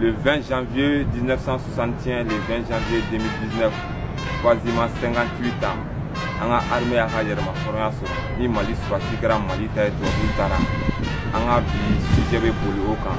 Le 20 janvier 1961, le 20 janvier 2019, quasiment 58 ans, an ka armée y'a ka yɛrɛmahɔrɔnya sɔrɔ ni mali sɔrɔdasi kɛra mali ta ye tubabuw taara an ka bi sujet bɛ boli o kan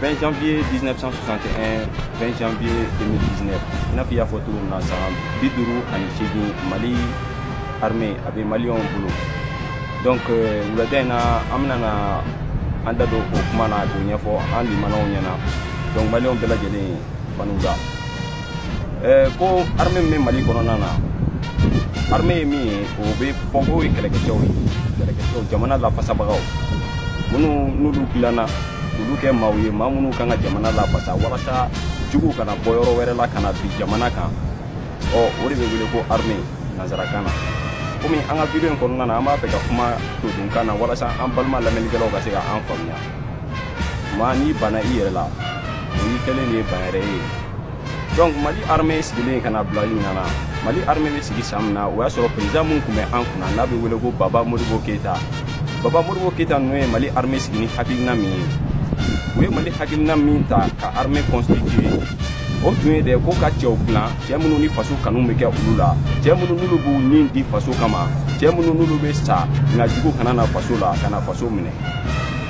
20 janvier 1961 20 janvier 2019 i n'a fɔ i y'a fɔ cogo min na san bi duuru ani seegin mali armée a bɛ maliyɛnw bolo donc euh, wulada in na an bɛna na an da don o kuma na k'o ɲɛfɔ an limanaw ɲɛna donc maliyɛnw bɛɛ lajɛlen ban'u la eh, ko armée min bɛ mali kɔnɔna na armée ye min ye o bɛ fɔ k'o ye kɛlɛkɛcɛw ye kɛlɛkɛcɛw jamana lafasabagaw minnu n'olu dilanna olu kɛ maaw ye maa minnu kan ka jamana lafasa walasa juguw kana bɔ yɔrɔ wɛrɛ la ka na bin jamana kan ɔ o de bɛ wele ko armée nanzarakan na komi an ka video in kɔnɔna na an b'a fɛ ka kuma todunkan na walasa an balima lamɛnnikɛlaw ka se ka an faamuya maa n'i banna i yɛrɛ la o y'i kɛlen de ye ban yɛrɛ ye donc mali armée sigilen ka na bila ɲinan na mali armée bɛ sigi san min na o y'a sɔrɔ président min tun bɛ an kunna n'a bɛ wele ko baba modibo keyita baba modibo keyita ninnu ye mali armée sigi ni hakilina min ye u ye mali hakilina min ta ka armée constituer o tun ye de ko ka cɛw dilan cɛ minnu ni faso kanu bɛ kɛ olu la cɛ minnu n'olu b'u nin di faso kama cɛ minnu n'olu bɛ sa nka jugu kana na faso la ka na faso minɛ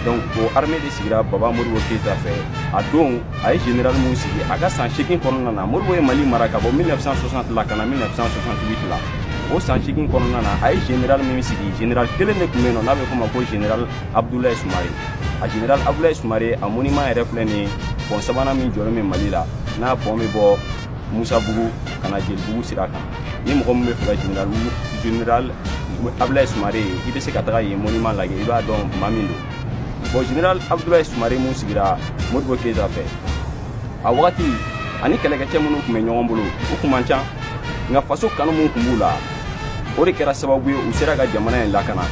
donc o armée de sigira baba modibo keyita fɛ a don a ye général min sigi a ka san seegin kɔnɔna na modibo ye mali mara ka bɔ 1960 la ka na 1968 la o san seegin kɔnɔna na a ye général min sigi général kelen de tun bɛ yen nɔ n'a bɛ f'o ma ko général abdoulaye sumare a général abdoulaye sumare a monument yɛrɛ filɛ nin ye pɔn sabanan min jɔlen bɛ mali la n'a pɔn bɛ bɔ musabugu ka na jelibugu sira kan ni mɔgɔ min b'a fɛ ka general general abdulayi sumare ye i bɛ se ka taga yen monument lajɛ i b'a dɔn maa min don bon general abdulayi sumare min sigira modibo keyita fɛ a wagati ani kɛlɛkɛcɛ minnu tun bɛ ɲɔgɔn bolo u tun man ca nka faso kanu min tun b'u la o de kɛra sababu ye u sera ka jamana in lakana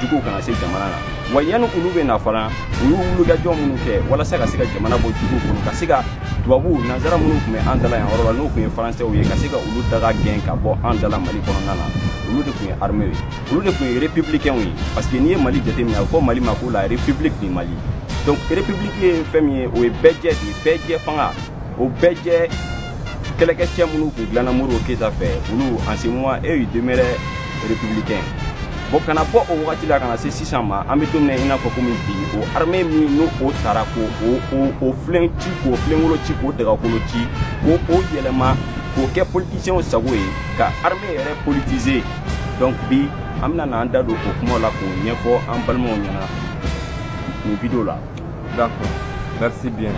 juguw kana se jamana na wa yanni olu bɛ na fana u y'u wulikajɔ minnu kɛ walasa ka se ka jamana bɔ juguw kɔnɔ ka se ka tubabuw nanzara minnu tun bɛ an da la yan yɔrɔ la n'o tun ye faransɛw ye ka se ka olu daga gɛn ka bɔ an da la mali kɔnɔna na olu de tun ye armew ye olu de tun ye républicainw ye parce que n'i ye mali jateminɛ a bɛ fɔ mali ma ko la république du mali donc république ye fɛn min ye o ye bɛɛ jɛ de ye bɛɛ jɛ fanga o bɛɛ jɛ kɛlɛkɛcɛ minnu tun dilanna modibo keyita fɛ olu en ce moment eux ils demeuraient républicains bon ka na bɔ o wagati la ka na se sisan ma an bɛ don min na i n'a fɔ komi bi o armée min n'o o taara k'o o o o filen ci k'o filenkolo ci k'o dagakolo ci k'o o yɛlɛma k'o kɛ politisiɲɛw sago ye ka armée yɛrɛ politiser donc bi an bɛna n'an da don o kumaw la k'o ɲɛfɔ an balimaw ɲɛna nin video la d'accord merci bien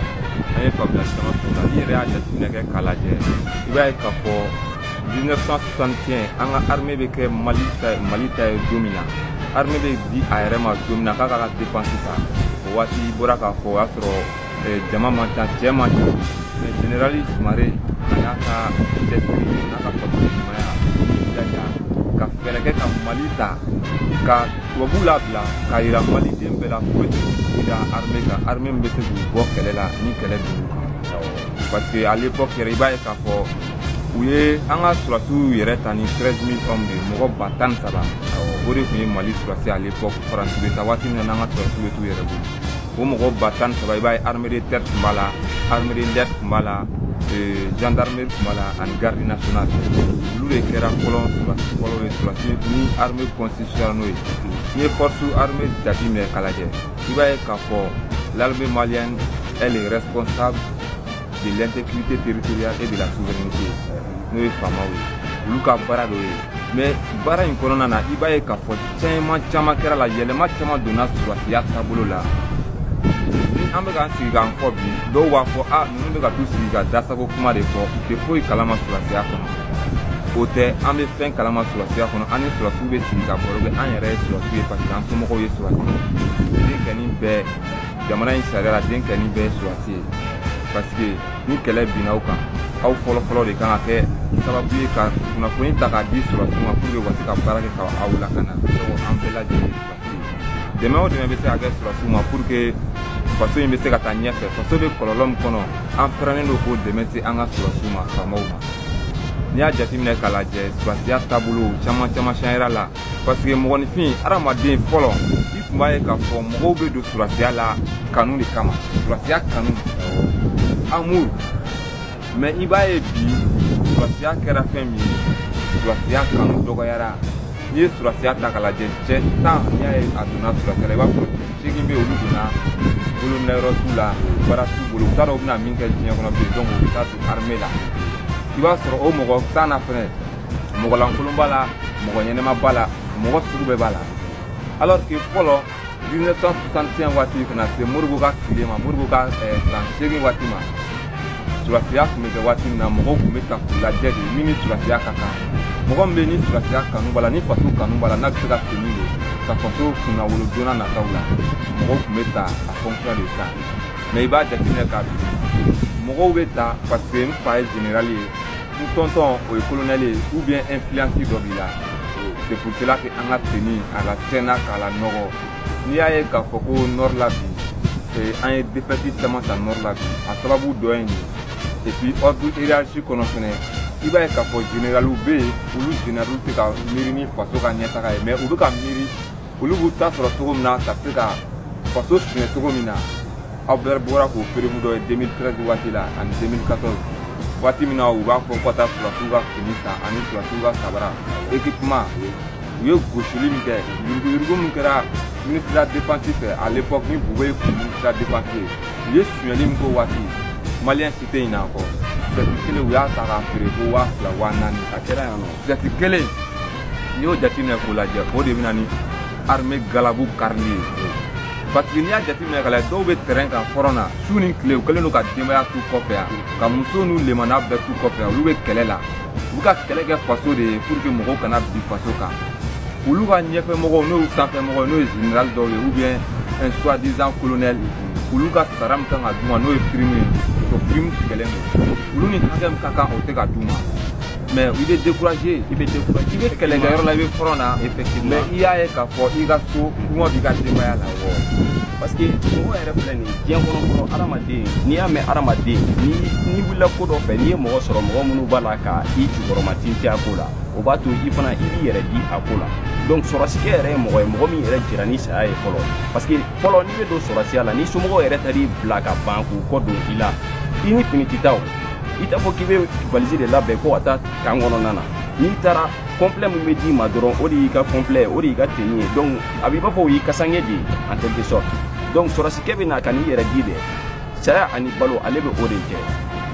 an ye faamuyali caman sɔrɔ n'i yɛrɛ y'a jateminɛ kɛ k'a lajɛ i b'a ye k'a fɔ 1961 an ka armée bɛ kɛ mali ta mali ta ye don min na armée bɛ di a yɛrɛ ma don min na k'a k'a ka dépense ta o waati i bɔra k'a fɔ o y'a sɔrɔ eh, jama man ca cɛ man ca mais général sumare a y'a ka cɛsiri n'a ka faso ɲumanya jaja ka fɛɛrɛ kɛ ka mali ta ka tubabuw labila k'a yira maliden bɛɛ la k'u bɛ se k'u da armée kan armée min bɛ se k'u bɔ kɛlɛ la ni kɛlɛ dugu kan parce que à l'époque yɛrɛ i b'a ye k'a fɔ u ye an ka surasiw yɛrɛ ta ni 13 000 hommes de ye mɔgɔ ba tan ni saba o de tun ye mali surasi à l'époque faransi bɛ taa waati min na n'an ka surasiw bɛ t'u yɛrɛ bolo o mɔgɔ ba tan ni saba i b'a ye armée de terre tun b'a la armée de l'air tun b'a la euh, gendarmerie tun b'a la ani garde nationale olu de kɛra fɔlɔ surasi fɔlɔ ye surasi ni armée constitutionnelle n'o ye n'i ye force armée jateminɛ k'a lajɛ i b'a ye k'a fɔ l'armée malienne elle est responsable de l'intégrité territoriale et de la souveraineté n'o ye faamaw ye olu ka baara dɔ ye mais baara in kɔnɔna na i b'a ye k'a fɔ caman caman kɛr'a la yɛlɛma caman donna surasiya taabolo la ni an bɛ k'an sigi k'an fɔ bi dɔw b'a fɔ a ninnu bɛ ka t'u sigi ka dasago kuma de fɔ u tɛ foyi kalama surasiya kɔnɔ o tɛ an bɛ fɛn kalama surasiya kɔnɔ an ni surasiw bɛ sigi ka baro kɛ an yɛrɛ ye surasiw ye parce que an somɔgɔw ye surasiw ye denkɛni bɛɛ jamana in sariya la denkɛni bɛɛ ye surasi ye pasike ni kɛlɛ binna aw kan aw fɔlɔfɔlɔ de kan ka kɛ sababu ye ka kunnafoni ta k'a di surasiw ma puruke u ka se ka baara kɛ ka aw lakana an bɛɛ lajɛlen surasi dɛmɛ o dɛmɛ bɛ se ka kɛ surasiw ma puruke faso in bɛ se ka taa ɲɛfɛ faso bɛ kɔlɔlɔ min kɔnɔ an pɛrɛnnen don k'o dɛmɛ se an ka surasiw ma faamaw ma n'i y'a jateminɛ k'a lajɛ surasiya taabolo caman caman sanzera la paseke mɔgɔninfin adamaden fɔlɔ i tun b'a ye k'a fɔ mɔgɔw bɛ don surasiya la kanu de kama surasiya kanu amour mais i b'a ye bi surasiya kɛra fɛn min ye surasiya kanu dɔgɔyara n'i ye surasiya ta k'a lajɛ cɛ tan n'i y'a ye a donna surasiya la i b'a fɔ seegin bɛ olu donna bolominɛyɔrɔ t'u la baara t'u bolo u t'a dɔn u bɛna min kɛ diɲɛ kɔnɔ bilen donc u bɛ taa don armée la i b'a sɔrɔ o mɔgɔ tan na fɛnɛ mɔgɔlankolon b'a la mɔgɔ ɲɛnama b'a la mɔgɔ sugu bɛɛ b'a la alors que fɔlɔ 1961 waati ka na se Modibo ka tile ma Modibo ka eh, san seegin waati ma sɔrɔsiya tun bɛ kɛ waati min na mɔgɔw tun bɛ ta k'u lajɛ de min ni sɔrɔsiya ka kan mɔgɔ min bɛ ni sɔrɔsiya kanu b'a la ni faso kanu b'a la n'a bɛ se ka senu de ka faso kunnawolo don nataw la mɔgɔw tun bɛ ta en fonction de ça mais i b'a jateminɛ k'a bi mɔgɔw bɛ ta parce que n fa ye general ye n tɔntɔn o ye kolonɛli ye ou bien influence dɔ b'i la c'est pour cela que an ka tenue a ka tɛna k'a lanɔgɔ n'i y'a ye k'a fɔ ko nord la bi an ye défaite caman ta nord la bi a sababu dɔ ye nin et puis ordre hiérarchie kɔnɔ fɛnɛ i b'a ye k'a fɔ généraliw bɛ yen olu généraliw tɛ ka miiri ni faso ka ɲɛtaga ye mais u bɛ ka miiri olu b'u ta sɔrɔ cogo min na ka se ka faso suɲɛ cogo min na aw bɛɛ bɔra k'o preuve dɔ ye 2013 waati la ani 2014 waati min na u b'a fɔ ko ka taa sɔrɔsiw ka fini san ani sɔrɔsiw ka sabara équipement u ye gosili min kɛ yuruguyurugu min kɛra ministre de la défense fɛ à l'époque ni Boubèye kun ministre de la défense ye u ye suɲɛli min k'o waati maliyɛn si tɛ ɲinɛ a kɔ sɛti kelen u y'a ta k'a feere ko waa fila waa naani a kɛra yan nɔ sɛti kelen n'i y'o jateminɛ k'o lajɛ o de bɛna ni armée galabu karili ye parce que n'i y'a jateminɛ k'a lajɛ dɔw bɛ terrain kan front na su ni tile u kɛlen don ka denbaya t'u kɔfɛ yan ka muso n'u lemana bɛɛ t'u kɔfɛ yan olu bɛ kɛlɛ la u bɛ ka kɛlɛ kɛ faso de ye pour que mɔgɔw kana bin faso kan olu ka ɲɛfɛ mɔgɔw n'o y'u sanfɛ mɔgɔw n'o ye général dɔw ye ou bien un soi-disant colonel olu ka sara min kan ka d'u ma n'o ye prime ye o prime tigɛlen don olu ni hakɛ min ka kan o tɛ ka d'u ma mais i bɛ décourager i bɛ décourager i bɛ kɛlɛkɛyɔrɔ la i bɛ front na effectivement mais i y'a ye k'a fɔ i ka so kɔngɔ b'i ka denbaya la awɔ parce que mɔgɔ yɛrɛ filɛ nin diɲɛ kɔnɔ fɔlɔ hadamaden n'i y'a mɛn hadamaden ni n'i wulila ko dɔ fɛ n'i ye mɔgɔ sɔrɔ mɔgɔ minnu b'a la ka i jukɔrɔmatintin a ko la o b'a to i fana i b'i yɛrɛ di a ko la donc sɔrɔsikɛ yɛrɛ ye mɔgɔ ye mɔgɔ min yɛrɛ jira ni saya ye fɔlɔ parce que fɔlɔ n'i bɛ don sɔrɔsiya la ni somɔgɔw yɛrɛ taar'i bila ka ban k'u kɔ don i la i ni fini tɛ taa o i t'a fɔ k'i bɛ valisi de labɛn ko ka taa camp kɔnɔna na n'i taara complet min bɛ d'i ma dɔrɔn o de y'i ka complet ye o de y'i ka tenue ye donc a b'i b'a fɔ o y'i kasange de ye en quelque sorte donc sɔrɔsikɛ bɛ na ka n'i yɛrɛ di dɛ saya ani balo ale bɛ o de kɛ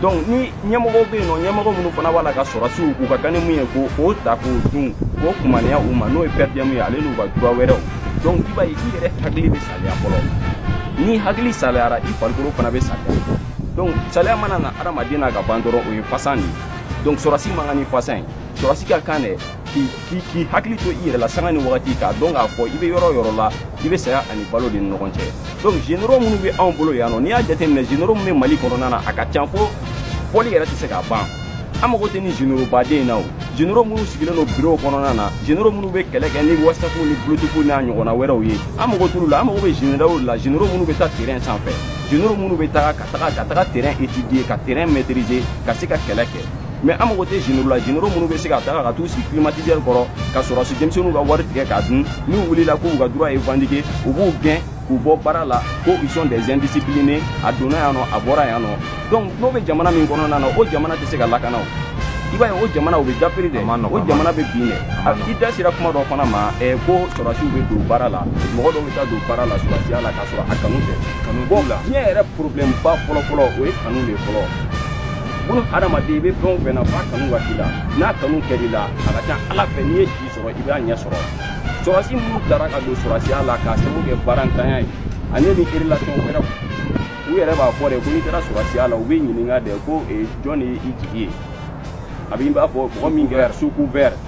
donc ni ɲɛmɔgɔw bɛ yen nɔ ɲɛmɔgɔ minnu fana b'a la ka sɔrɔsiw k'u ka kan ni mun ye k'o ta k'o dun k'o kumaniya u ma n'o ye per diem ye ale n'u ka droit wɛrɛw donc i b'a ye i yɛrɛ hakili bɛ saliya fɔlɔ n'i hakili saliyara i farikolo fana bɛ saliya donc saliya mana na adamaden na ka ban dɔrɔn o ye fasan de ye donc sɔrɔsi man kan ni fasan ye sɔrɔsi ka kan de k'i hakili to i yɛrɛ la sanga ni wagati k'a dɔn k'a fɔ i bɛ yɔrɔ o yɔrɔ la i bɛ saya ani balo de ni ɲɔgɔn cɛ donc généraux minnu bɛ anw bolo yan nɔ n'i y'a jateminɛ généraux min bɛ mali kɔnɔna na a ka ca fo fɔli yɛrɛ tɛ se k'a ban an mago tɛ ni généraux baden na o généraux minnu sigilen don bureau kɔnɔna na généraux minnu bɛ kɛlɛ kɛ ni whatsapp ni bluetooth n'a ɲɔgɔnna wɛrɛw ye an mago t'olu la an mago bɛ généraux la généraux minnu bɛ taa terrain sanfɛ généraux minnu bɛ taga ka taga terrain étudier ka terrain maîtriser ka se ka kɛlɛ kɛ mais an mago tɛ généraux la généraux minnu bɛ se ka taga ka t'u sigi climatiseur kɔrɔ ka sɔrɔsi denmisɛnninw ka wari tigɛ k'a dun n'u wulila k'u ka droit revendiquer u b'u gɛn k'u bɔ baara la ko ils sont des indisciplinés a donna yan nɔ a bɔra yan nɔ donc n'o bɛ jamana min kɔnɔna na o jamana tɛ se ka lakana o i b'a ye o jamana o bɛ dafiri dɛ o jamana bɛ bin dɛ i da sera kuma dɔ fana ma ko sɔrɔsiw bɛ don baara la mɔgɔ dɔw bɛ taa don baara la sɔrɔsiya la sɔrɔ a kanu tɛ kanu b'o la diɲɛ yɛrɛ problème ba fɔlɔ fɔlɔ o ye kanu de fɔlɔ bon hadamaden i bɛ fɛn o fɛn na f'a kanu ka k'i la n'a kanu kɛr'i la a ka ca ala fɛ n'i ye si sɔrɔ i b'a ɲɛ sɔrɔ sɔrɔsi minnu taara ka don sɔrɔsiya la k'a sababu kɛ baarantanya ye ani ni relation wɛrɛw u yɛrɛ b'a fɔ de ko n'i taara sɔrɔsiya la u b'i ɲininka de ko jɔn de y'i jigi ye a b'i b'a fɔ mɔgɔ min kɛra sous couvert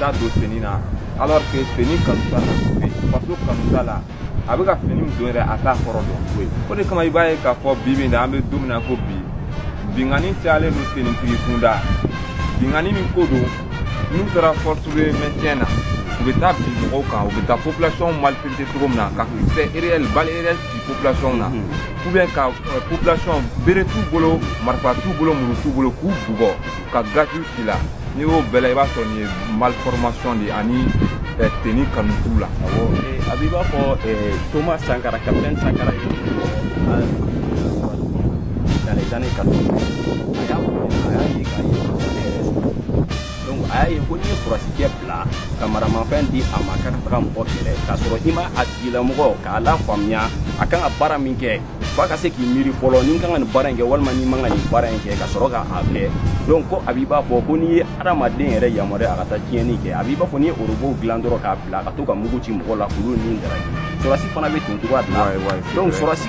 taa don fini na alors que fini kanu t'a la faso kanu t'a la a bɛ ka fini min don yɛrɛ a t'a kɔrɔ dɔn foyi o de kama i b'a ye k'a fɔ bi bi in na an bɛ don min na ko bi binkanni cayalen don tenitigi kunda binkanni min ko don n'u taara force de maintien na u bɛ taa bin mɔgɔw kan u bɛ taa population maltraiter cogo min na ka kisɛ réel balle réel ci population na ou bien ka euh, population bere t'u bolo marifa t'u bolo muru t'u bolo k'u bugɔ ka gaziw ci la n'i y'o bɛɛ la i b'a sɔrɔ nin ye malformation de ye ani euh, tenue kanu t'u la awɔ a b'i b'a fɔ euh, thomas sankara capitaine sankara ye dans les années 80 a y'a fɔ a y'a ye k'a ye masakɛ yɛrɛ sɔrɔ donc a y'a ye ko n'i ye sɔrɔsikɛ bila ka maramafɛn di a ma k'a ka taga mɔgɔ kɛlɛ k'a sɔrɔ i ma a tigilamɔgɔ k'a lafaamuya a kan ka baara min kɛ f'a ka se k'i miiri fɔlɔ ni n kan ka nin baara in kɛ walima ni n man ka nin baara in kɛ ka sɔrɔ k'a kɛ donc ko a b'i b'a fɔ ko n'i ye hadamaden yɛrɛ yamaruya a ka taa tiɲɛni kɛ a b'i b'a fɔ n'i ye robot dilan dɔrɔn k'a bila ka to ka mugu ci mɔgɔ la k'olu ni daraki sɔrɔsi fana bɛ ten cogoya de la donc sɔrɔsi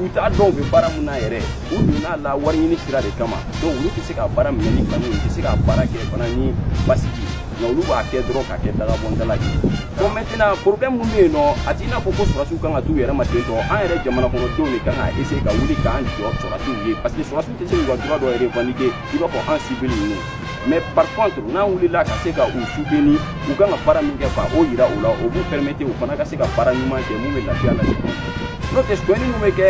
u t'a dɔn u bɛ baara mun na yɛrɛ u donn'a la wari ɲini sira de kama donc olu tɛ se ka baara minɛ ni kanu u tɛ se ka baara kɛ fana ni basigi nka olu b'a kɛ dɔrɔn k'a kɛ dagabɔndala ye bon maintenant problème mun bɛ yen nɔ a t'i n'a fɔ ko sɔrɔsiw kan ka t'u yɛrɛ ma ten tɔ an yɛrɛ jamanakɔnɔdenw de kan ka essayer ka wuli k'an jɔ sɔrɔsiw ye parce que sɔrɔsiw tɛ se k'u ka droit dɔ revendiquer i b'a fɔ an civil ninnu mais par contre n'an wulila ka se ka u soutenir u kan ka baara min kɛ ka o yira u la o b'u permettre u fana ka se ka baara ɲuman kɛ mun bɛ lafiya lase n'o tɛ sonyɛni min bɛ kɛ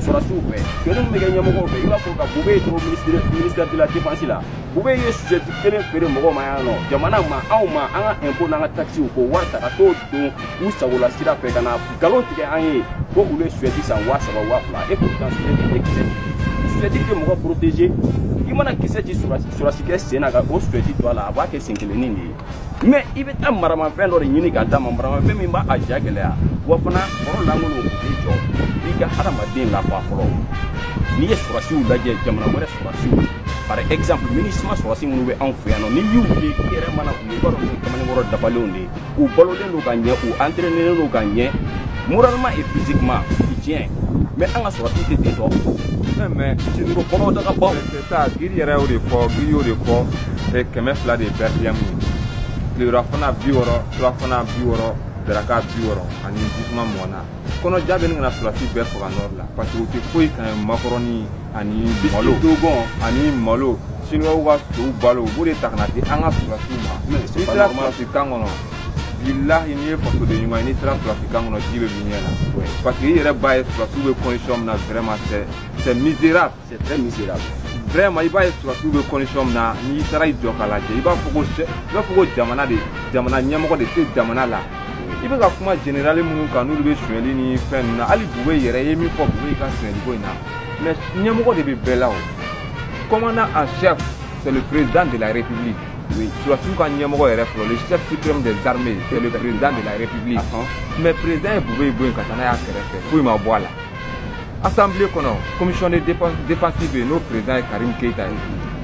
sɔrɔsiw fɛ sonyɛni min bɛ kɛ ɲɛmɔgɔw fɛ i b'a fɔ ka bubeyi to ministre ministère de la défense la bubeyi ye chaussette kelen feere mɔgɔw ma yan nɔ jamana ma anw ma an ka impôt n'an ka taxes k'o wari ta ka t'o don u sagola sira fɛ ka na nkalon tigɛ an ye ko olu ye chaussette san waa saba waa fila et pourtant chaussette tɛ kisɛ chaussette tɛ mɔgɔ protéger i mana kisɛ ci sɔrɔsikɛ sen na ka o chaussette to a la a b'a kɛ sen kelennin de ye mais i bɛ taa maramafɛn dɔ de ɲini k'a d'a ma maramafɛn min b'a ja gɛlɛya wa fana bɔrɔ lankolon o t'i jɔ i ka hadamaden lafa fɔlɔ n'i ye sɔrɔsiw lajɛ jamana wɛrɛ sɔrɔsiw par exemple MINUSMA sɔrɔsi minnu bɛ anw fɛ yan nɔ n'i y'u ye i yɛrɛ mana u ye i b'a dɔn ko kamalenkɔrɔ dafalenw de ye u balolen don ka ɲɛ u entraînelen don ka ɲɛ moralement et physiquement tiɲɛ mais an ka sɔrɔsi tɛ ten tɔ mais siniko kɔnɔ daga baw c'est ça giri yɛrɛ y'o de fɔ giri y'o de fɔ kɛmɛ fila de ye perdiem ye tilerafana bi wɔɔrɔ surafana bi wɔɔrɔ daraka bi wɔɔrɔ ani jisuma mugan kɔnɔja bɛ ɲini ka na sɔrɔsi bɛɛ faga nord la parce que u tɛ foyi kan makɔrɔni ani malo dogon ani malo siniwaw ka sow balo u b'o de ta ka n'a di an ka sɔrɔsiw ma n'i sera sɔrɔsi kan kɔnɔ bilahi n'i ye fasoden ɲuman ye n'i sera sɔrɔsi kan kɔnɔ ji bɛ b'i ɲɛ la parce que i yɛrɛ b'a ye sɔrɔsiw bɛ condition min na vraiment c'est c'est misérable C'est très misérable. vraiment i b'a ye sɔrɔsiw bɛ condition min na n'i taara i jɔ k'a lajɛ i b'a fɔ ko i b'a fɔ ko jamana de jamana ɲɛmɔgɔ de tɛ jamana la i bɛ ka kuma général minnu kan n'olu bɛ sonyali ni fɛn ninnu na hali bubeyi yɛrɛ i ye min fɔ bubeyi ka sonyali ko in na mais ɲɛmɔgɔ de bɛ bɛɛ la o commandant en chef c'est le président de la république oui. sɔrɔsiw ka ɲɛmɔgɔ yɛrɛ fɔlɔ le chef suprême des armées c'est le président de la république mais président ye bubeyi bɔ yen ka taa n'a y'a kɛrɛfɛ foyi ma bɔ a la assemblée kɔnɔ commission de défense bɛ yen n'o président ye karim keyita ye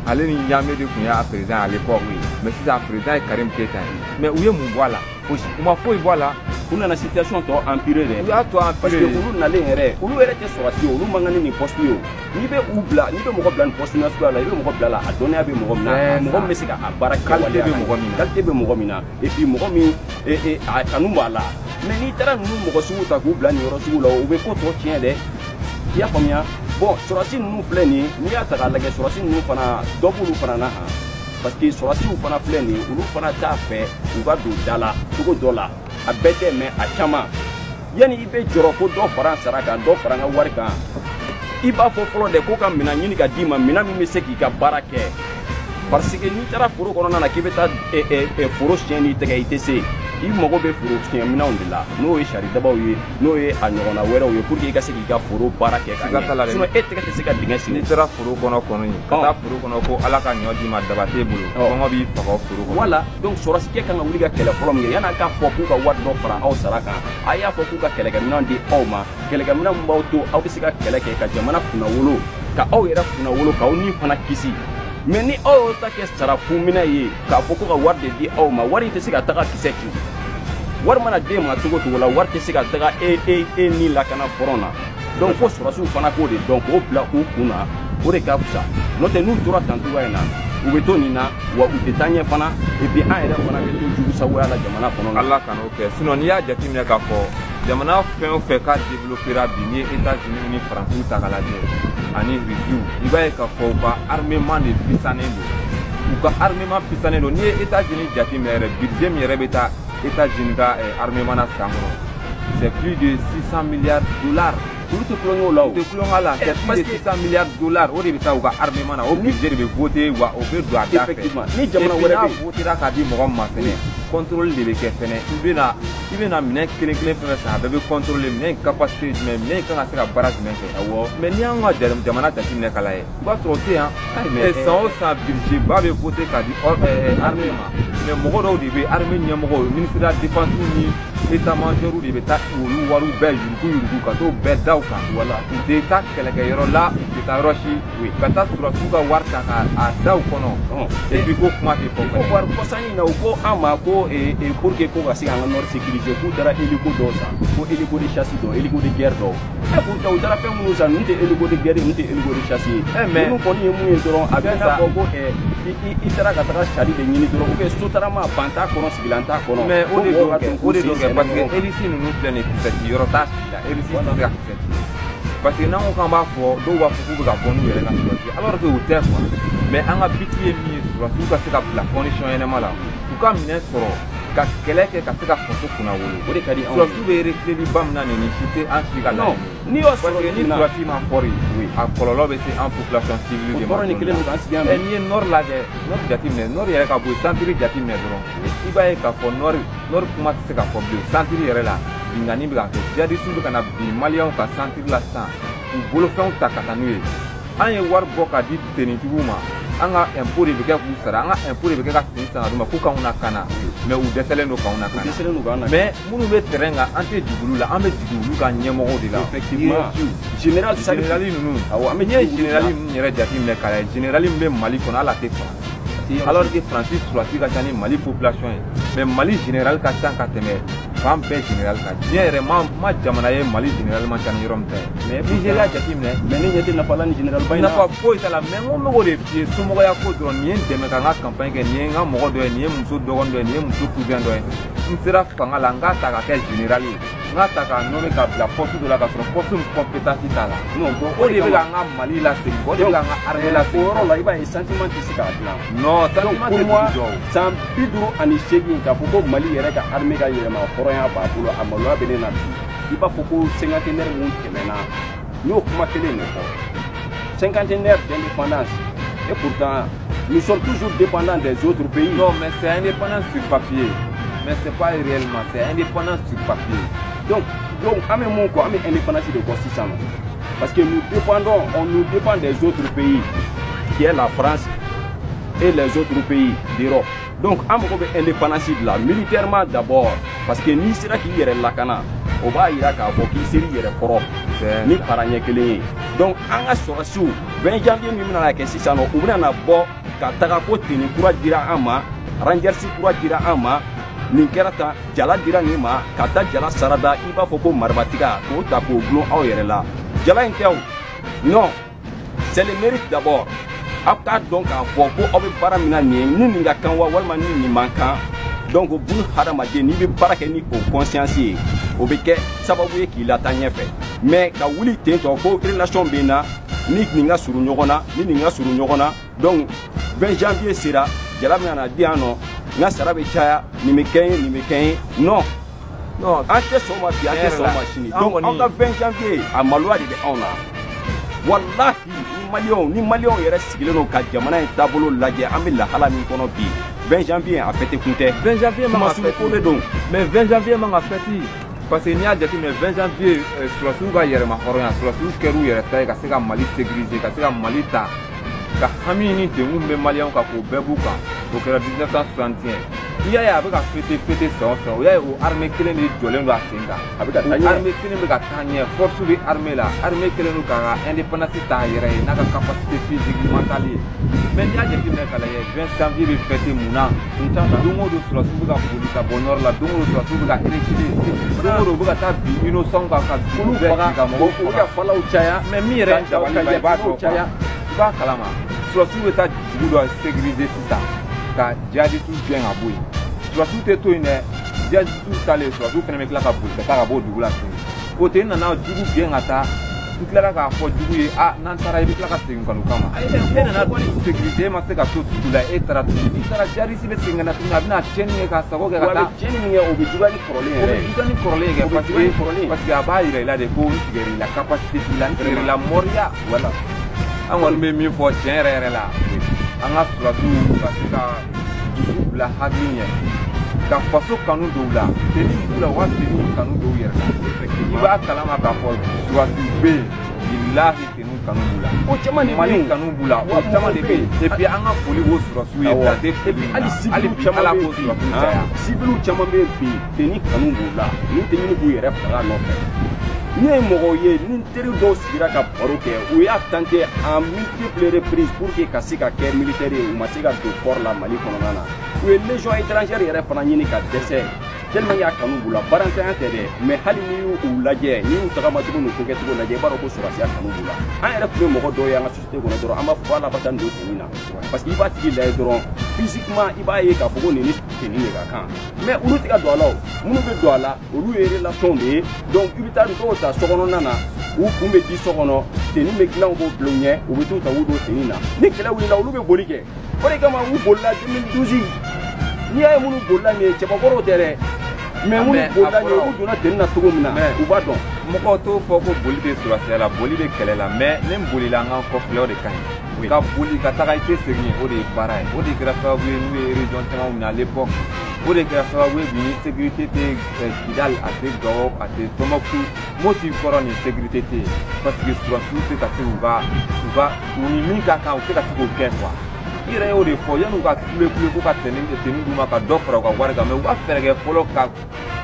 ale ni ɲaame de tun y'a président à l'époque mais sisan président ye karim keyita ye mais u ye mun bɔ a la fosi u ma foyi bɔ a la u nana situation tɔ empirer dɛ u y'a tɔ empirer parce que olu nalen yɛrɛ olu yɛrɛ tɛ sɔrɔsi ye olu man kan ni nin poste ye o n'i bɛ u bila n'i bɛ mɔgɔ bila nin poste nasuguya la i bɛ mɔgɔ bila la a dɔnniya bɛ mɔgɔ min na mɔgɔ min bɛ se ka a baara kɛ waleya la qualité bɛ mɔgɔ min na qualité bɛ mɔgɔ min na et puis mɔgɔ min a kanu b'a la mais n'i taara ninnu mɔgɔ sugu ta k'u bila nin yɔrɔ sugu la o bɛ ko tɔ tiɲɛ dɛ i y'a faamuya bon sɔrɔsi ninnu filɛ nin ye n'i y'a ta k'a lajɛ sɔrɔsi ninnu fana dɔ b'olu fana na han parce que sɔrɔsiw fana filɛ nin ye olu fana t'a fɛ u ka don da la cogo dɔ la a bɛɛ tɛ mais a caman yanni i bɛ jɔrɔ ko dɔ fara n sara kan dɔ fara n ka wari kan i b'a fɔ fɔlɔ dɛ ko ka minɛn ɲini ka d'i ma minɛn min bɛ se k'i ka baara kɛ parce que n'i taara foro kɔnɔna na k'i bɛ taa eh, eh, eh, foro siɲɛ n'i tɛgɛ i tɛ se i mago bɛ foro siɲɛ minɛnw de la n'o ye saridabaw ye n'o ye a ɲɔgɔnna wɛrɛw ye pour que i ka se k'i ka foro baara kɛ ka ɲɛ sinon e tɛgɛ tɛ se ka dingɛ sen n'i taara foro kɔnɔ kɔni ka taa foro kɔnɔ ko ala ka ɲɔ d'i ma daba t'e bolo kɔngɔ b'i faga foro kɔnɔ voilà donc sɔrɔsikɛ kan ka wuli ka kɛlɛ fɔlɔ min kɛ yan'a k'a fɔ k'u ka wari dɔ fara aw sara kan a y'a fɔ k'u ka kɛlɛkɛminɛn di aw ma kɛlɛkɛminɛn min b'aw to aw bɛ se ka kɛlɛ kɛ ka jamana kunnawolo ka aw yɛrɛ kunnawolo k'aw ni fana kisi mais ni aw y'o ta kɛ sara fu minɛ ye k'a fɔ ko ka wari de di aw ma wari in tɛ se ka taga kisɛ ci wari mana d'e ma cogo cogo la wari tɛ se ka taga e e e ni lakana fɔrɔn na donc fo sɔrɔsiw fana k'o de dɔn k'o bila u kun na o de ka fisa n'o tɛ n'u tora tan cogoya in na u bɛ to nin na wa u tɛ taa ɲɛ fana et puis an yɛrɛ fana bɛ to jugu sagoya la jamana kɔnɔ na ala kan'o kɛ sinon n'i y'a jateminɛ k'a fɔ jamana fɛn o fɛn k'a développera bi n'i ye états unis ni faransiw ta k'a lajɛ ani rusiw i b'a ye k'a fɔ u ka armement de pisannen don u ka armement pisannen don n'i ye états unis jateminɛ yɛrɛ budget min yɛrɛ bɛ taa états unis ka armement na san kɔnɔ C'est plus de 600 milliards de dollars. Olu tɛ tulon kɛ o la, u tɛ tulon kɛ o la, c'est plus de 600 milliards de dollars. O de bɛ taa u ka armement na, o budget de bɛ voter, wa o bɛ don a da fɛ. Effectivement. Ni jamana wɛrɛ bɛ yen. N'a votera k'a di mɔgɔ ma fɛnɛ. Contrôle de bɛ kɛ fɛnɛ. I bɛna, i bɛna minɛn kelen kelen fɛn fɛn san, a bɛɛ bɛ contrôler minɛn in capacité jumɛn, minɛn in kan ka se ka baara jumɛn kɛ. Awɔ. Mais n'i y'an ka jamana jateminɛ k'a lajɛ. i b'a sɔrɔ o tɛ yan san o san budget ba bɛ voter k'a di armée ma mais mɔgɔ dɔw de bɛ armée ɲɛmɔgɔw ministre de la défense ni état major de bɛ taa olu wariw bɛɛ yuruguyurugu ka t'o bɛɛ da u kan wala u tɛ taa kɛlɛkɛyɔrɔ la u tɛ taa yɔrɔ si ka taa sɔrɔsiw ka wari ta k'a da u kɔnɔ et puis ko kuma tɛ fɔ fɛnɛ. ko waati kɔsa nin na u ko an ma ko pour que ko ka se k'an ka nord sécuriser k'u taara hélico dɔw san ko hélico de chasse dɔw hélico de guerre dɔw. pourtant u taara fɛn minnu san ninnu tɛ hélico de guerre ninnu tɛ hélico de chasse ye mais ninnu kɔni ye mun ye dɔrɔn a bɛ n'a fɔ ko eh, i taara ka taga sari de ɲini dɔrɔn ou bien sotarama ban t'a kɔnɔ sigilan t'a kɔnɔ mais o de don kɛ o de don kɛ parce que hélice ninnu filɛ nin kisɛ ci yɔrɔ t'a si la hélice tɛ se ka kisɛ ci parce que n'an ko k'an b'a fɔ dɔw b'a fɔ k'u bɛ ka bɔ n'u yɛrɛ ka sɔrɔsi alors que o tɛ quoi mais an ka biti ye min ye sɔrɔsiw ka se ka bila condition ɲɛnama la u ka minɛn sɔrɔ ka kɛlɛ kɛ ka se ka faso kunnawolo o de ka di anw ye sɔrɔsiw bɛ reculeli ba min na nin si tɛ an si ka laɲini ye o parce que ni sɔrɔsi ma fɔri a kɔlɔlɔ bɛ se an population civile de ma nin kelen k'an sigi yan n'i ye nord lajɛ nord jateminɛ nord yɛrɛ ka bɔ yen santiri jateminɛ dɔrɔn i b'a ye k'a fɔ nord nord kuma tɛ se ka fɔ bilen santiri yɛrɛ la binkanni bɛ ka kɛ jadisiw bɛ ka na bin maliyɛnw kan santiri la sisan k'u bolofɛnw ta ka taa n'u ye an ye wari bɔ ka di tenitigiw ma an ka impôt de bɛ kɛ k'u sara an ka impôt de bɛ kɛ ka fini san ka d'u ma ko k'anw lakana mais u dɛsɛlen don k'anw lakana dɛsɛlen don k'an na mais minnu bɛ terrain kan an tɛ jigin olu la an bɛ jigin olu ka ɲɛmɔgɔw de la effectivement général général ninnu awɔ an bɛ n'i ye général ninnu yɛrɛ jateminɛ k'a lajɛ général min bɛ mali kɔnɔ hali a tɛ faransi alors que faransi sɔrɔsi ka ca ni mali population ye mais mali général ka ca ka tɛmɛ fan bɛɛ général kan diɲɛ yɛrɛ ma jamana ye mali général man ca ni yɔrɔ min ta ye mais nizeriya jateminɛ mais ne ɲɛ tɛ nafa la ni général ba in na nafa foyi t'a la mais n ko n bɛ k'o de f'i ye somɔgɔya ko dɔrɔn nin ye n dɛmɛ ka n ka campagne kɛ nin ye n ka mɔgɔ dɔ ye nin ye muso dɔgɔnin dɔ ye nin ye muso cousin dɔ ye n sera fanga la n k'a ta ka kɛ général ye n k'a ta k'a nommé ka bila poste dɔ la ka sɔrɔ poste min compétence t'a la o de bɛ k'an ka mali lasegin o de bɛ k'an ka armée lasegin o yɔrɔ la i b'a ye sentiment tɛ se k'a dilan non sentiment tɛ dugu jɔ san bi duuru ani seegin k'a fɔ ko mali yɛrɛ ka armée ka yɛrɛma hɔrɔnya b'a bolo a maloya bɛ ne na bi i b'a fɔ ko cinquantenaire min tɛmɛna n y'o kuma kelen de fɔ cinquantenaire d'indépendance et pourtant nous sommes toujours dépendants des autres pays. non mais c'est indépendance sur papier mais c'est pas réellement c'est indépendance sur papier. donc donc an bɛ mun kɔ an bɛ indépendance de kɔ sisan nɔ. Parce que nous dépendons, on nous dépend des autres pays, qui est la France et les autres pays d'Europe. Donc, an mago bɛ indépendance de la militairement d'abord parce que n'i sera k'i yɛrɛ lakana o b'a yira k'a fɔ k'i ser'i yɛrɛ kɔrɔ ni para ɲɛ kelen ye donc an ka sɔrɔsiw 20 janvier min bɛna na kɛ sisan nɔ u bɛna na bɔ ka taga ko tenue kura dira an ma rangers kura dira an ma nin kɛra tan jala dira nin ma ka ta jala sarada i b'a fɔ ko maribatiga k'o ta k'o dulon aw yɛrɛ la jala in tɛ o non c'est le mérite d'abord aw k'a dɔn k'a fɔ ko aw bɛ baara min na nin ye ni nin ka kan wa walima ni nin man kan donc bun hadamaden n'i bɛ baara kɛ ni o conscience ye o bɛ kɛ sababu ye k'i lataa ɲɛfɛ mais ka wuli ten tɔ ko relation bɛ n na ni nin ka surun ɲɔgɔn na ni nin ka surun ɲɔgɔn na donc 20 janvier sera jala bɛna na di yan nɔ n ka sara bɛ caya nin bɛ kɛ n ye nin bɛ kɛ n ye non non an tɛ sɔn ma bi an tɛ sɔn ma sini donc an ka 20 janvier a maloya de bɛ anw na walahi ni maliyɛnw ni maliyɛnw yɛrɛ sigilen don ka jamana in taabolo lajɛ an bɛ lahala min kɔnɔ bi 20 janvier a fête kun tɛ 20 janvier man ka fête kuma surun ko de don mais 20 janvier man ka fête parce que n'i y'a jateminɛ 20 janvier eh, sɔrɔsiw ka yɛrɛma hɔrɔnya sɔrɔsiw kɛr'u yɛrɛ ta ye ka se ka mali sécuriser ka se ka mali ta ka hami ni degun bɛ maliyɛnw kan k'o bɛɛ b'u kan o kɛra 1961 n'i y'a ye a bɛ ka fête fête san o san o y'a ye o armée kelen de jɔlen don a sen kan a bɛ ka taa ɲɛ armée kelen bɛ ka taa ɲɛ force bɛ armée la armée kelen don k'a ka indépendance ta a yɛrɛ ye n'a ka capacité physique mentale ye mais n'i y'a jateminɛ k'a lajɛ 20 janvier bɛ fête mun na n t'a la don o don surasiw bɛ ka boli ka bɔ nord la don o don surasiw bɛ ka reculer don o don u bɛ ka taa bin innocentw kan ka dugu bɛɛ ci ka mɔgɔw faga u bɛ ka falaw caya mais min yɛrɛ ka dabali la i b'a dɔn quoi i b'a kalama surasiw bɛ taa dugu dɔ sécuriser sisan ka jihadisiw gɛn ka bɔ yen surasiw tɛ to yen dɛ jihadisiw taalen surasiw fana bɛ tila ka boli ka taa ka bɔ o dugu la tuguni o tɛ n nana jugu gɛn ka taa n tilara k'a fɔ jugu ye n'an taara i bɛ tila ka segin ka n'u kama e nana sécurité e ma se ka to dugu la e taara tuguni i taara jihadisi bɛ segin ka na tuguni a bɛna tiɲɛni kɛ k'a sago kɛ ka taa tiɲɛni min kɛ o bɛ juguya ni kɔrɔlen yɛrɛ ye o bɛ juguya ni kɔrɔlen ye kɛ parce que parce que a b'a yira i la de ko n tigɛra i la capacité t'i la n tigɛra i la mɔriya voilà an kɔni bɛ min fɔ tiɲɛ yɛrɛ yɛrɛ la an ka surasiw ka se ka dusu bila hakili ɲɛ ka faso kanu don u la teni b'u la u ka teni kanu don u yɛrɛ la i b'a kalama k'a fɔ surasiw bɛ yen bilahi teni kanu b'u la o caman de mali kanu b'u la o caman de bɛ yen et puis an ka foli o surasiw ye dan tɛ foli min na hali bi ala k'o surasiw caya siviliw caman bɛ yen bi teni kanu b'u la n'u tɛ ɲini k'u yɛrɛ faga nɔfɛ ne ye mɔgɔw ye ni n teri dɔw sigira ka baro kɛ u y'a tenter en multiples reprises pour que ka se ka kɛ militaire ye u ma se ka don corps la mali kɔnɔna na u ye légion étrangère yɛrɛ fana ɲini ka dɛsɛ tellement y'a kanu b'u la baarantanya tɛ dɛ mais hali n'i y'u u lajɛ n'i y'u tagamacogo n'u kokɛcogo lajɛ i b'a dɔn ko sɔrɔsiya kanu b'u la an yɛrɛ tun bɛ mɔgɔ dɔw ye an ka société kɔnɔ dɔrɔn an b'a fɔ ala bata nin don teni na parce que i b'a tigi lajɛ dɔrɔn physiquement i b'a ye k'a fɔ ko nin ni teni de ka kan mais olu tɛ ka don a la o minnu bɛ don a la olu ye relation de ye donc i bɛ taa dɔw ta sokɔnɔna na u kun bɛ di so kɔnɔ teni bɛ dilan k'o bila u ɲɛ u bɛ t'u ta u don teni na ni kɛlɛ wulila olu bɛ boli kɛ o de kama u bolila 2012 n'i y'a ye minnu bolila nin ye cɛbakɔrɔw tɛ dɛ mais minnu bolila nin ye u donna teni na cogo min na u b'a dɔn mɔgɔw t'o fɔ ko boli bɛ surasiya la boli bɛ kɛlɛ la mais ne bolila an ka kɔfilɛ o de ka ɲi ka boli ka taga i tɛ segin o de ye baara ye o de kɛra sababu ye n'u ye région caman minɛ à l'époque o de kɛra sababu ye bi ni sécurité tɛ kidal a tɛ gawo a tɛ tombouctou moti kɔrɔ ni sécurité tɛ yen parce que surasiw tɛ ka se k'u ka u ka u ni min ka kan u tɛ ka se k'o kɛ quoi i yɛrɛ y'o de fɔ yanni u ka kule kule ko ka teni teni d'u ma ka dɔ fara u ka wari kan mais u ka fɛɛrɛ kɛ fɔlɔ ka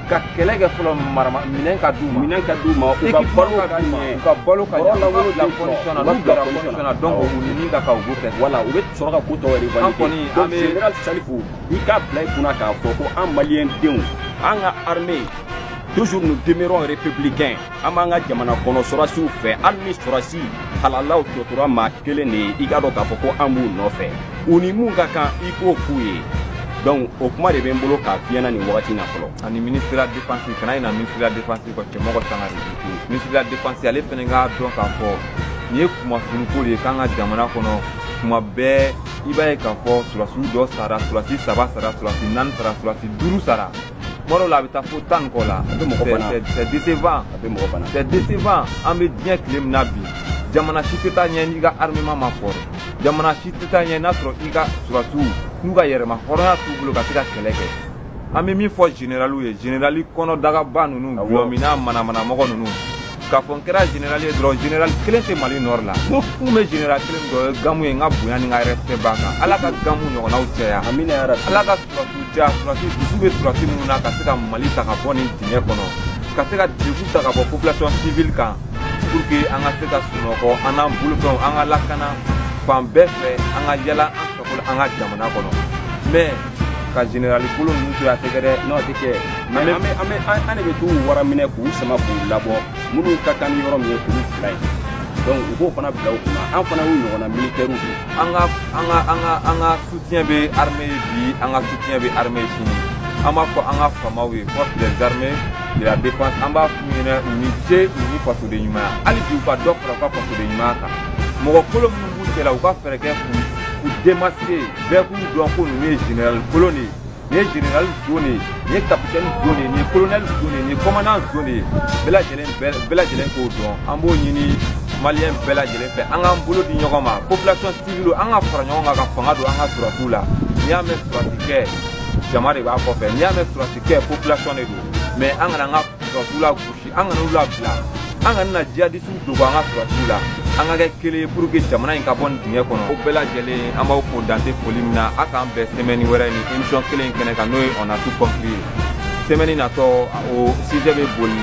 ka kɛlɛ kɛ fɔlɔ marama minɛn ka d'u ma minɛn ka d'u ma u ka balo ka d'u ma u ka balo ka ɲɛ u ka bila condition na n'u bilara condition na donc u ni min ka kan u b'o kɛ voilà u bɛ sɔrɔ ka ko tɔ yɛrɛ valider an kɔni an bɛ général salifu i k'a bila i kunna k'a fɔ ko an maliyɛn denw an ka armée toujours nous demeurons républicains an b'an ka jamana kɔnɔ sɔrasiw fɛ hali ni sɔrasi halalaw tɔ tora maa kelen de ye i k'a dɔn k'a fɔ ko an b'u nɔfɛ u ni mun ka kan i k'o k'u ye donc o kuma de bɛ n bolo k'a f'i ɲɛna nin wagati na fɔlɔ ani ministre la défense kana ɲina ministre la défense kɔ cɛmɔgɔ sangare ministre la défense ale fɛnɛ k'a dɔn k'a fɔ nin ye kunmasuuliko de ye k'an ka jamana kɔnɔ tuma bɛɛ i b'a ye k'a fɔ surasiw dɔ sara surasi saba sara surasi naani sara surasi duuru sara tuma dɔw la a bɛ taa fo tan ni kɔ la c'est décevant c'est décevant an bɛ diɲɛ tile min na bi jamana si tɛ taa ɲɛ n'i ka armement ma fort jamana si tɛ taa ɲɛ n'a sɔrɔ i ka surasiw n'u ka yɛrɛma hɔrɔnya t'u bolo ka se ka kɛlɛ kɛ an bɛ min fɔ generaliw ye generali kɔnɔdagaba ninnu gulɔminna manamanamɔgɔ ninnu k'a fɔ n kɛra generali ye dɔrɔn generali kelen tɛ mali nord la ko kun bɛ generali kelen dɔ ye gamu ye n ka bonya ni n ka respect b'a kan ala ka gamu ɲɔgɔnnaw caya ala ka surasiw caya surasi dusu bɛ surasi minnu na ka se ka mali ta ka bɔ nin dingɛ kɔnɔ ka se ka degun ta ka bɔ population civile kan pour que an ka se ka sunɔgɔ an n'an bolofɛnw an ka lakana fan bɛɛ fɛ an ka yala an sago la an ka jamana kɔnɔ mais ka generali kolon ninnu to a tɛ kɛ dɛ n'o tɛ kɛ an bɛ an bɛ an de bɛ t'u wara minɛ k'u sama k'u labɔ minnu ka kan ni yɔrɔ min ye k'u bila yen donc u k'o fana bila u kunna an fana y'u ɲɔgɔnna militɛriw de an ka an ka an ka an ka soutien bɛ armée ye bi an ka soutien bɛ armée ye sini an b'a fɔ an ka faamaw ye force des armées de la défense an b'a f'u ɲɛna u ni ce u ni fasoden ɲumanya hali bi u ka dɔ fara u ka fasoden ɲumanya kan mɔgɔ kolon minnu b'u cɛla u ka fɛɛrɛ kɛ k'u k'u démasquer bɛɛ k'u dɔn ko ninnu ye general kolon de ye nin ye general zon de ye nin ye capitaine zon de ye nin ye colonel zon de ye nin ye commandant zon de ye bɛɛ lajɛlen k'o dɔn an b'o ɲini maliyɛn bɛɛ lajɛlen fɛ an k'an bolo di ɲɔgɔn ma population civile an ka fara ɲɔgɔn kan ka fanga don an ka surasiw la n'i y'a mɛn surasi kɛ jama de b'a kɔfɛ n'i y'a mɛn surasi kɛ population de don mais an kana an ka surasiw lagosi an kana u labila an kana na jihadisiw dogo an ka surasiw la an ka kɛ kelen ye pour que jamana in ka bɔ nin dingɛ kɔnɔ o bɛɛ lajɛlen an b'aw fo dan tɛ foli min na a k'an bɛn sɛmɛni wɛrɛ nin emisiyɔn kelen in kɛnɛ kan n'o ye on a tout compris ye sɛmɛni natɔ o sijɛ bɛ boli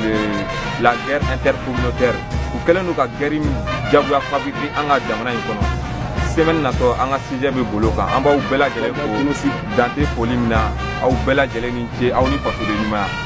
la guerre intercommunautaire u kɛlen don ka gɛri jagoya fabriquer an ka jamana in kɔnɔ sɛmɛni natɔ an ka sijɛ bɛ bol'o kan an b'aw bɛɛ lajɛlen fo dan tɛ foli min na aw bɛɛ lajɛlen ni ce aw ni fasoden ɲumanya